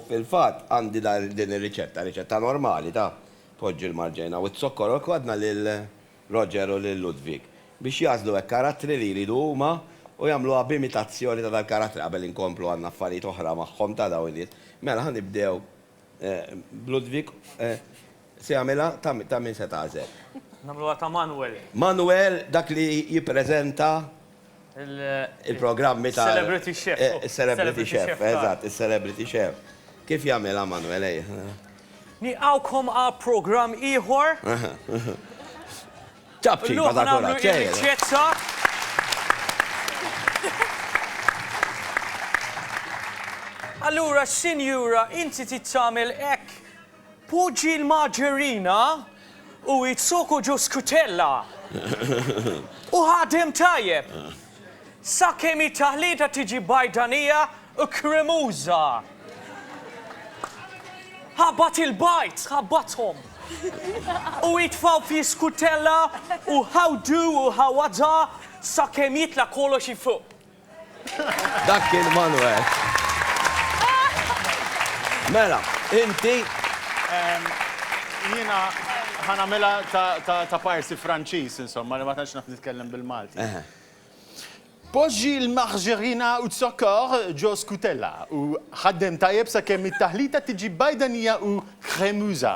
Fil-fatt, għandi din ir-riċetta, riċetta normali ta' poġġi l-marġejna u z-zokkor u l-kwadna lil Roger u lil Ludwig biex jagħżlu hekk karattri li jridu huma u jagħmluha b'imitazzjoni ta' dal-karattri qabel inkomplu għandna affarijiet oħra magħhom ta' dawn in-nies. Mela ħa nibdew b'Ludwig. Se jagħmilha? Ta' min se tagħżel? Nagħmluha ta' Manwel. Manwel dak li jippreżenta l-programmi ta' Celebrity Chef. Is-Celebrity Chef, eżatt, is-Celebrity Chef. Kif jagħmilha Manwel, ejja. Nilqgħukom għal programm ieħor. Ċapċipa ta' kuraġġ, ejja. Illum nagħmlu riċċetta. Allura, Sinjura, inti trid tagħmel hekk. Poġġi l-marġerina u z-zuku ġo skutella u ħadem tajjeb sakemm it-taħlita tiġi bajdanija u kremuża. Ħabbat il-bajds, ħabbathom, u itfgħu fl-iskutella u ħawdu u ħawadha sakemm jitla' kollox 'il fuq. Dak kien Manwel. Mela, inti. Jiena ħanamela ta' parsi Franċiż, insomma, li ma tantx naf nitkellem bil-Malti. Poġġi l-margarina u z-zokkor ġo skutella u ħaddem tajjeb sakemm it-taħlita tiġi bajdanija u kremuża.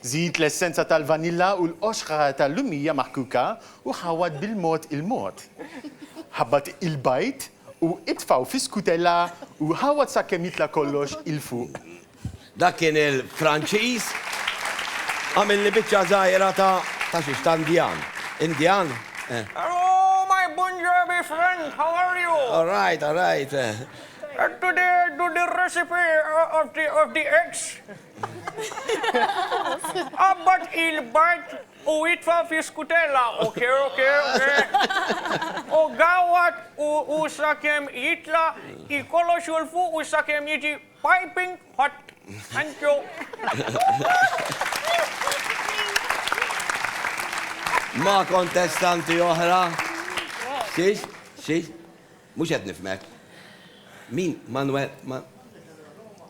Żid l-essenza tal-vanilla u l-qoxħa tal-lumija maħkuka u ħawwad bil-mod il-mod. Ħabbat il-bajd u itfgħu fi skutella u ħawwad sakemm jitla' kollox 'il fuq. Dak kien il-Franċiż. Għamilli biċċa żgħira ta' ta' xiex? Ta' Indjan. Indjan? Eh. Hello my Punjabi friend, how are you? All right, all right. Eh. Today I do the recipe of the of the eggs. Qabbad il-bard u itfa' fi skutella, ok, ok, ok. U gawwad u u sakemm jitla' il-kollox u l-fuq u sakemm jiġi piping hot. Thank you. Ma' kontestanti oħra. Xiex? Xiex? Mhux qed nifhmek. Min? Manwe- Ma-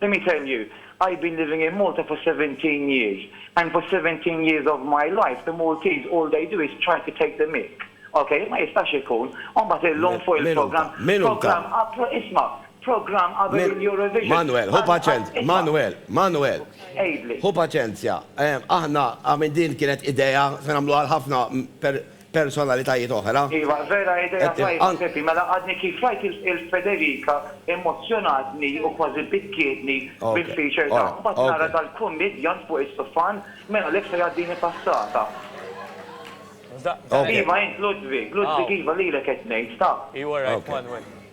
Let me tell you, I been living in Malta for seventeen years and for seventeen years of my life the Maltese all they do is try to take the mick, ok, ma jistax ikun, u mbagħad illum fuq il-programm, programm qabel, isma', programm qabel il-Eurovision, Manwel, ħu paċenzja, isma', Manwel, Manwel, għidli. Ħu paċenzja, aħna, I mean din kienet idea, se nagħmluha għal ħafna, per, personalitajiet oħra. Iva, vera idea tajba Pepi, mela għadni kif rajt il Federica immozzjonatni u kważi bikkietni bil feature tagħha, mbagħad nara dal kummidjant fuq is-sufan, mela għalhekk se jgħaddini passata. Iva int Ludwig, Ludwig iva lilek qed ngħid, ta.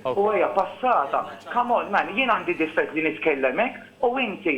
U hija passata. Come on man, jien għandi difett li nitkellem hekk u inti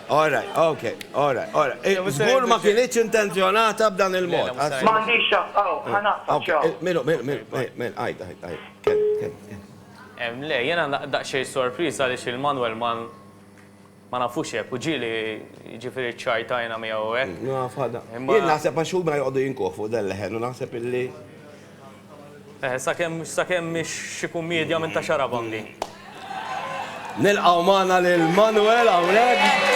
All right, ok, all right, all right. Żgur ma kinitx intenzjonata b'dan il-mod. M'għandix x'għadd, aw, ħa naqtgħek, ciao. Mil, mil, mil, mil, għid, għid, għid. Ken, ken, ken. Em, le, jiena daqsxejn sorpriż għaliex il-manwel ma ma nafux hekk u ġieli jiġifieri ċċajtajna miegħu hekk. Naf, ħadha. Jien naħseb għax huma jqogħdu jinkuh fuq dan il-leħen u naħseb illi. Eh, sakemm sakemm mhix xi kummedja minn ta' xarabangi. Nilqgħu magħna lil Manuel hawnhekk.